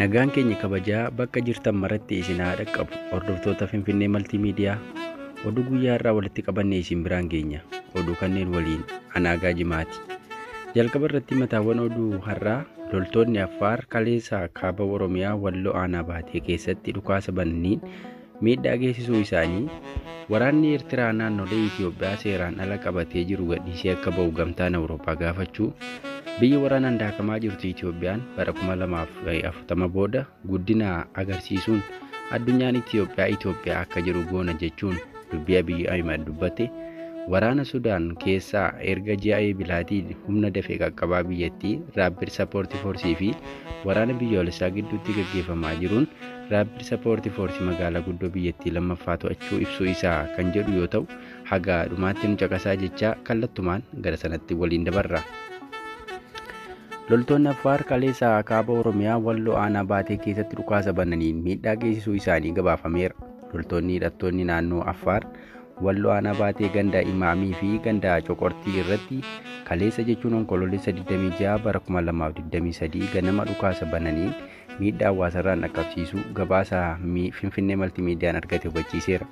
Nagaan keenya kabajaa bakka jirtan maratti isin haa dhaqqabu. Hordoftoota Finfinnee Maltiimiidiyaa oduu guyyaa irraa walitti qabanne isin biraan geenya. Oduu kanneen waliin anaagaa jimaati. Jalqaba irratti mataawwan oduu har'aa loltoonni Affaar kaleessa kaaba Oromiyaa walloo aanaa baatee keessatti dhukaasa bananiin miidhaa geessisuu isaanii, waraanni Eertiraa naannolee Itoophiyaa seeraan ala qabatee jiru gadhiisee akka ba'u gamtaan Awurooppaa gaafachuu, biyya waraanaan daakamaa jirtu Itoophiyaan bara 2040 booda guddina agarsiisuun addunyaan Itoophiyaa Itoophiyaa akka jiru goona jechuun dubbii Abiy Ahimad dubbate, waraana Sudaan keessaa erga ji'a Eebilaatiin humna dafee qaqqabaa biyyattii Rapid Support Force fi waraana biyyoolessaa gidduutti gaggeeffamaa jiruun Rapid Support Force magaalaa guddoo biyyattii lammaffaa to'achuu ibsuu isaa kan jedhu yoo ta'u, haga dhumaatti nu caqasaa jechaa kallattumaan gara sanatti waliin dabarra. Loltoonni Affaar kaleessa kaaba Oromiyaa Walloo Aanaa Baatee keessatti dhukaasa bananiin miidhaa geessisuu isaanii gabaafameera. Loltoonni hidhattoonni naannoo Affaar Walloo Aanaa Baatee ganda Imaamii fi ganda Coqortii irratti kaleessa jechuun onkoloolessa 26 bara 2023 ganama dhukaasa bananiin miidhaa hawaasarraan dhaqqabsiisuu gabaasa Finfinnee Maltiimiidiyaan argate hubachiiseera.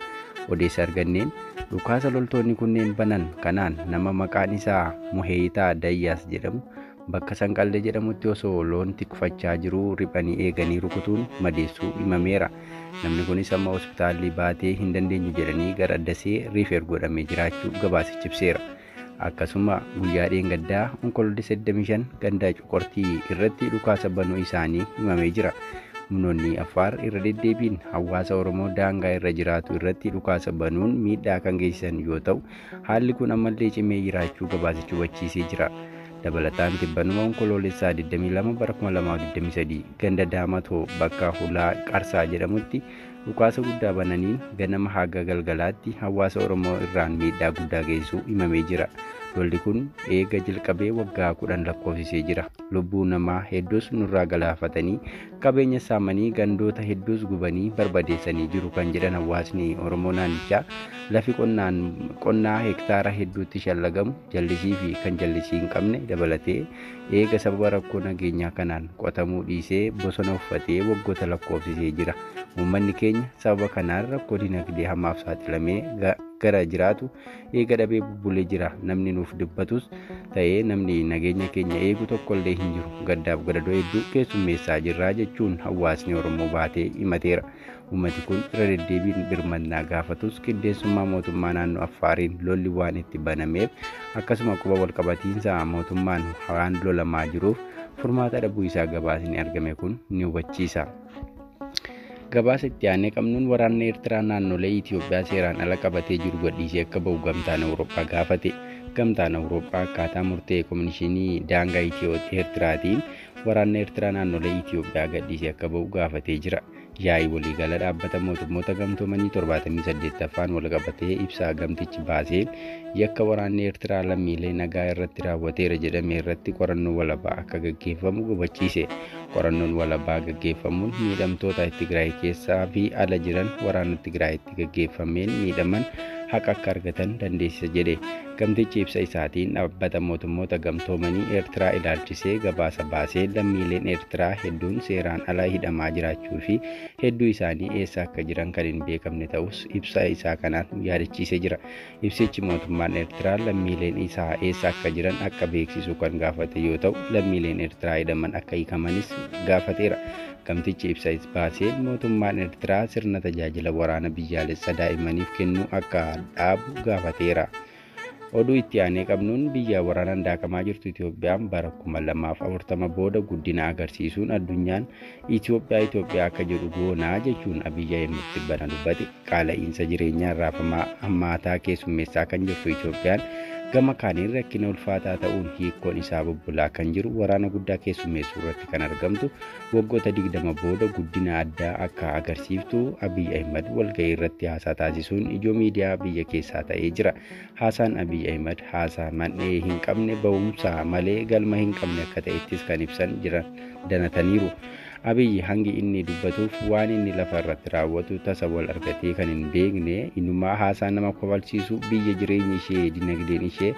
Odeessa arganneen dhukaasa loltoonni kunneen banan kanaan nama maqaan isaa Muheeyitaa Dayyaas jedhamu bakka Sanqallee jedhamutti osoo loon tikfachaa jiruu riphanii eeganii rukutuun madeessuu himameera. Namni kunis amma hospitaalli baatee hin dandeenyu jedhanii gara Dasee riifeer godhamee jiraachuu gabaasichi ibseera. Akkasuma guyyaa dheengaddaa Onkoloolessa 25 gandaa Coqortii irratti dhukaasa banuu isaanii himamee jira. Humnoonni Affaar irra deddeebiin hawaasa Oromoo daangaa irra jiraatu irratti dhukaasa banuun miidhaa kan geessisan yoo ta'u, haalli kun ammallee cimee jiraachuu gabaasichi hubachiisee jira. Dabalataan tibbanuma Onkoloolessa 22 bara 2023 ganda Daamatoo bakka Hulaa Qarsaa jedhamutti Dhukaasa guddaa bananiin ganama haga galgalaatti hawaasa Oromoo irraan miidhaa guddaa geessisuu himamee jira. Lolli kun eega jalqabee waggaa kudhan lakkoofsisee jira. Lubbuu namaa hedduus nurraa galaafatanii qabeenya saamanii gandoota hedduus gubanii barbadeessanii jiru kan jedhan hawaasni Oromoo naannichaa lafi qonnaan qonnaa hektaara hedduutti shallagamu jallisii fi kan jallisii hin qabne dabalatee eega sababa rakkoo nageenyaa kanaan qotamuu dhiisee bosona uffatee waggoota lakkoofsisee jira. Uummanni keenya sababa kanaan rakkoo dinagdee hamaaf saaxilamee gara jiraatu eega dhabee bubbulee jira. Namni nuuf dubbatus ta'ee namni nageenya keenya eegu tokkollee hin jiru. Gaddaaf gadadoo hedduu keessummeessaa jirra jechuun hawaasni Oromoo baatee himateera. Uummati kun irra deddeebiin birmannaa gaafatus qindeessummaa mootummaa naannoo Affaariin lolli waan itti banameef akkasuma quba walqabatiinsa mootummaan waan lolamaa jiruuf furmaata dhabuu isaa gabaasni argame kun ni hubachiisa. Gabaasa itti aanee qabnuun waraanni Eertiraa naannolee Itoophiyaa seeraan ala qabatee jiru gadhiisee akka ba'u gamtaan Awurooppaa gaafate. Gamtaan Awurooppaa akkaataa murtee Komishinii Daangaa Itiyoo Eertiraatiin waraanni Eertiraa naannolee Itoophiyaa gadhiisee akka ba'u gaafatee jira. Yaa'ii waliigala dhaabbata mootummoota gamtoomanii 78ffaan walqabatee ibsaa gamtichi baaseen yakka waraanni Eertiraa lammiilee nagaa irratti raawwateera jedhame irratti qorannoo walabaa akka gaggeeffamu gubachiise. Qorannoon walabaa gaggeeffamuun miidhamtoota Tigraay keessaa fi ala jiran waraana Tigraay irratti gaggeeffameen miidhaman haqa akka argatan dandeessisa jedhe. Gamtichi ibsa isaatiin dhaabbata mootummoota gamtoomanii Eertiraa ilaalchisee gabaasa baasee lammiileen Eertiraa hedduun seeraan ala hidhamaa jiraachuu fi hedduu isaanii eessa akka jiran kan hin beekamne ta'us ibsa isaa kanaan yaadachiisee jira. Ibsichi mootummaan Ertiraa lammiileen isaa eessa akka jiran akka beeksisu kan gaafate yoo ta'u, lammiileen Ertiraa hidhaman akka hiikamanis gaafateera. Gamtichi ibsa baaseen mootummaan Ertiraa sirna tajaajila waraana biyyaalessa daa'immaniif kennuu akka dhaabu gaafateera. Oduu itti aanee qabnuun biyya waraanaan daakamaa jirtu Itoophiyaan bara 2040 booda guddina agarsiisuun addunyaan Itoophiyaa Itoophiyaa akka jedhu goonaa jechuun Abiy Ahimad tibbana dubbate. Qaala'iinsa jireenyaan raafamaa hammaataa keessummeessaa kan jirtu Itoophiyaan gama kaaniin rakkina ulfaataa ta'uun hiikkoon isaa bubbulaa kan jiru waraana guddaa keessummeessuu irratti kan argamtu waggoota 20 booda guddina addaa akka agarsiiftu Abiy Ahimad walga'ii irratti haasaa taasisuun ijoo miidiyaa biyya keessaa ta'ee jira. Haasaan Abiy Ahimad haasaa man'ee hin qabne ba'umsa malee galma hin qabne akka ta'ettis kan ibsan jiran danataniiru. Abiy hangi inni dubbatuuf waan inni lafa irratti raawwatu tasa wal argatee kan hin beekne inumaa haasaa nama kofalchiisu biyya jireenyi ishee dinagdeen ishee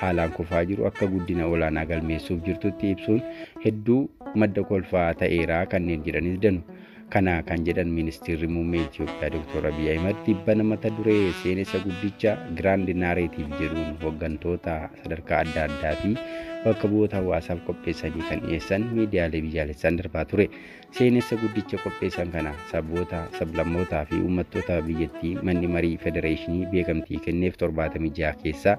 haalaan kufaa jiru akka guddina olaanaa galmeessuuf jirtutti ibsuun hedduu madda kolfaa ta'eeraa kanneen jedhanis danu. Kana kan jedhan Ministeerri Muummee Itiyoophiyaa Dr. Abiy Ahimad tibbana mata duree seenessa guddicha Giraand Naareetiiv jedhuun hooggantoota sadarkaa adda addaa fi bakka bu'oota hawaasaaf qopheessanii kan dhiyeessan miidiyaalee biyyaalessaan darbaa ture. Seenessa guddicha qopheessan kana saboota, sablammootaa fi uummattoota biyyattii manni marii federeeshinii beekamtii kenneef 76 keessaa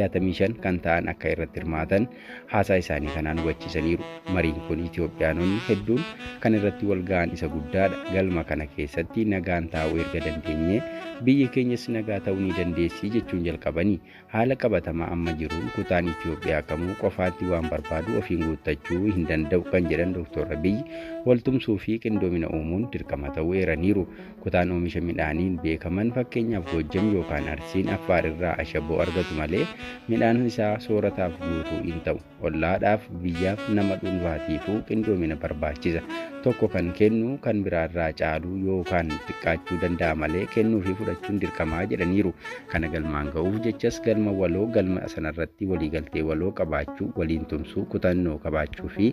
65 kan ta'an akka irratti hirmaatan haasaa isaanii kanaan hubachiisaniiru. Mariin kun Itiyoophiyaanonni hedduun kan irratti wal ga'an isa guddaadha. Galma kana keessatti nagaan taa'uu erga dandeenyee biyyi keenyas nagaa ta'uu ni dandeessi jechuun jalqabanii haala qabatamaa amma jiruun kutaan Itiyoophiyaa kamuu qofaatti waan barbaadu ofiin guuttachuu hin danda'u kan jedhan Dooktor Abiyyi waltumsuu fi qindoomina uumuun dirqama ta'uu eeraniiru. Kutaan oomisha midhaaniin beekaman fakkeenyaaf Goojjam yookaan Arsiin Affaar irraa ashaboo argatu malee midhaan isaa soorataaf guutuu hin ta'u. Ollaadhaaf, biyyaaf, nama dhuunfaatiifuu qindoomina barbaachisa. Tokko kan kennu kan biraa irraa caaluu yookaan xiqqaachuu danda'a malee kennuu fi fudhachuun dirqamaa jedhaniiru. Kana galmaan ga'uuf jechas galma waloo galma sanarratti waliigaltee waloo qabaachuu, waliin tumsuu, kutannoo qabaachuu fi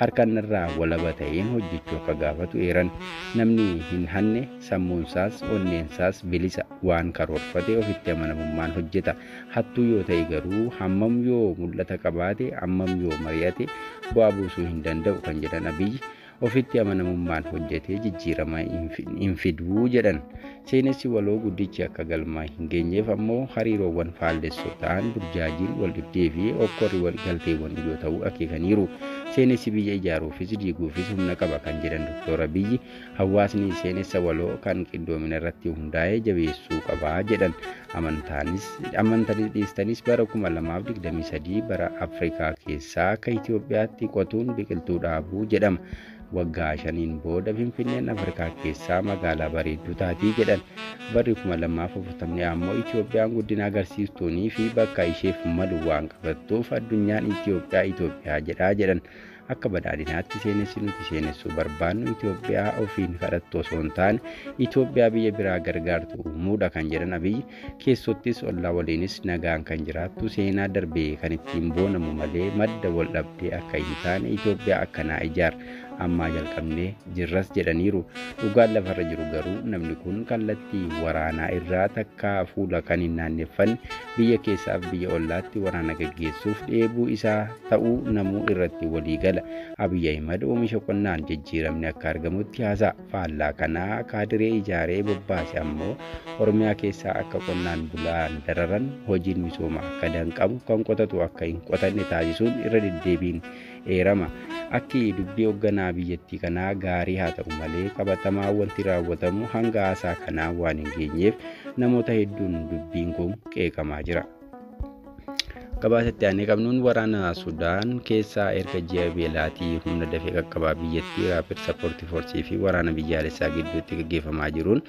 harkan irraa walaba ta'een hojjechuu akka gaafatu eeran. Namni hin hanne sammuunsaas onneensaas bilisa waan karoorfate ofitti amanamummaan hojjeta. Hattuu yoo ta'e garuu hammam yoo mul'ata qabaate hammam yoo mari'ate bu'aa buusuu hin danda'u kan jedhan Abiyyi ofitti amanamummaan hojjetee jijjiirama hin fiduu jedhan. Seenessi waloo guddichi akka galmaan hin geenyeef ammoo hariiroowwan faallessoo ta'an burjaajiin, waldhibdee fi hokkorri waliigalteewwan ijoo ta'uu akeekaniiru. Seenessi biyya ijaaruufis diiguufis humna qaba kan jedhan Doktoor Abiyyi, hawaasni seenessa waloo kan qindoomina irratti hundaa'e jabeessuu qaba jedhan. Amantaanis amantanis dhiistanis bara 2023 bara Afrikaa keessaa akka Itoophiyaatti qotuun biqiltuu dhaabuu jedhama. Waggaa shaniin booda Finfinneen Afrikaa keessaa magaalaa bareedduu taatii jedhan. Barri 2040 ammoo Itoophiyaan guddina agarsiistuunii fi bakka isheef malu waan qabattuuf addunyaan Itoophiyaa Itoophiyaa jedhaa jedhan. Akka badhaadhinaatti seenessi nuti seenessuu barbaannu Itoophiyaa ofiin kadhattu osoo hin taane Itoophiyaa biyya biraa gargaartu uumuudha kan jedhan Abiyyi keessottis ollaa waliinis nagaan kan jiraattu seenaa darbe kan ittiin boonamu malee madda wal dhabdee akka hin taane Itoophiyaa akkanaa ijaar ammaa jalqabnee jirras jedhaniiru. Dhugaan lafarra jiru garuu namni kun kallattii waraanaa irraa takkaa fuula kan hin naanneffanne biyya keessaaf biyya ollaatti waraana gaggeessuuf dheebuu isaa ta'uu namuu irratti walii gala. Abiy Ahimad oomisha qonnaan jijjiiramni akka argamutti haasa'a. faallaa kanaa kaadiree ijaaree bobbaase ammoo Oromiyaa keessaa akka qonnaan bulaan dararan, hojiin misoomaa akka danqamu, kan qotatu akka hin qotanne taasisuun irra deddeebiin eerama. Akki dubbii hogganaa biyyattii kanaa gaarii haa ta'u malee qabatamaan wanti raawwatamu hanga haasaa kanaa waan hin geenyeef namoota hedduun dubbiin kun qeeqamaa jira. Gabaasa itti aanee qabnuun waraana Sudaan keessaa erga ji'a beelaatii humna dafee qaqqabaa biyyattii Raapid Sappoortii Foorsii fi waraana biyyaalessaa gidduutti gaggeeffamaa jiruun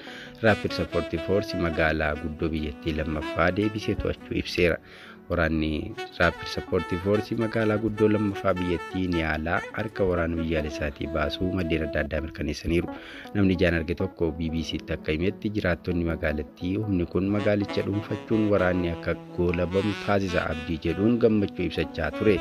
Raapid Sappoortii Foorsi magaalaa guddoo biyyattii lammaffaa deebisee to'achuu ibseera. Waraanni Raapid Sappoortii Foorsi magaalaa guddoo lammaffaa biyyattii Niyaalaa harka waraana biyyaalessaatii baasuu maddeen adda addaa mirkaneessaniiru. Namni ijaan arge tokko BBC'tti akka himetti jiraattonni magaalattii humni kun magaalicha dhuunfachuun waraanni akka goolabamu taasisa abdii jedhuun gammachuu ibsachaa ture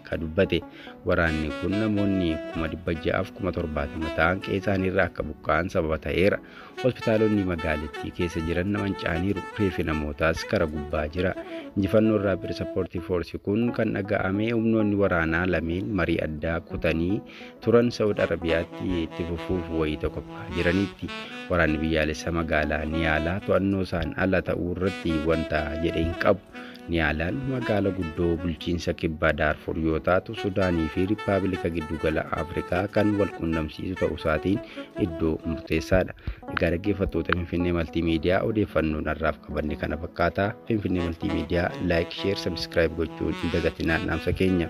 ka dubbate. Waraanni kun namoonni kuma dhibba ja'aaf kuma torbaatama ta'an qe'eesaaniirraa akka buqqa'an sababa ta'eera. Hospitaalonni magaalittii keessa jiran manca'aniiru. Reefi namootaas kara gubbaa jira. Injifannoon Raapid Sappoortii Foorsi kun kan dhaga'ame humnoonni waraanaa lameen marii addaa kutanii turan Sa'ud Arabiyaatti itti fufuuf wayita qophaa'aa jiraniitti waraanni biyyaalessa magaalaa Niyaalaa to'annoo isaan ala ta'uu irratti wanta jedhe hin qabu. Niyaalaan magaala guddoo bulchiinsa kibbaa Daarfur yoo taatu Sudaanii fi Rippaabilika Giddugala Afrikaa kan wal qunnamsiisu ta'uu isaatiin iddoo murteessaadha. Egaa dhaggeeffattoota Finfinnee Maltiimiidiyaa odeeffannoon har'aaf qabanne kana fakkaata. Finfinnee Maltiimiidiyaa laayik, sheer, sabiskiraayib gochuun hin dagatinaa dhaamsa keenya.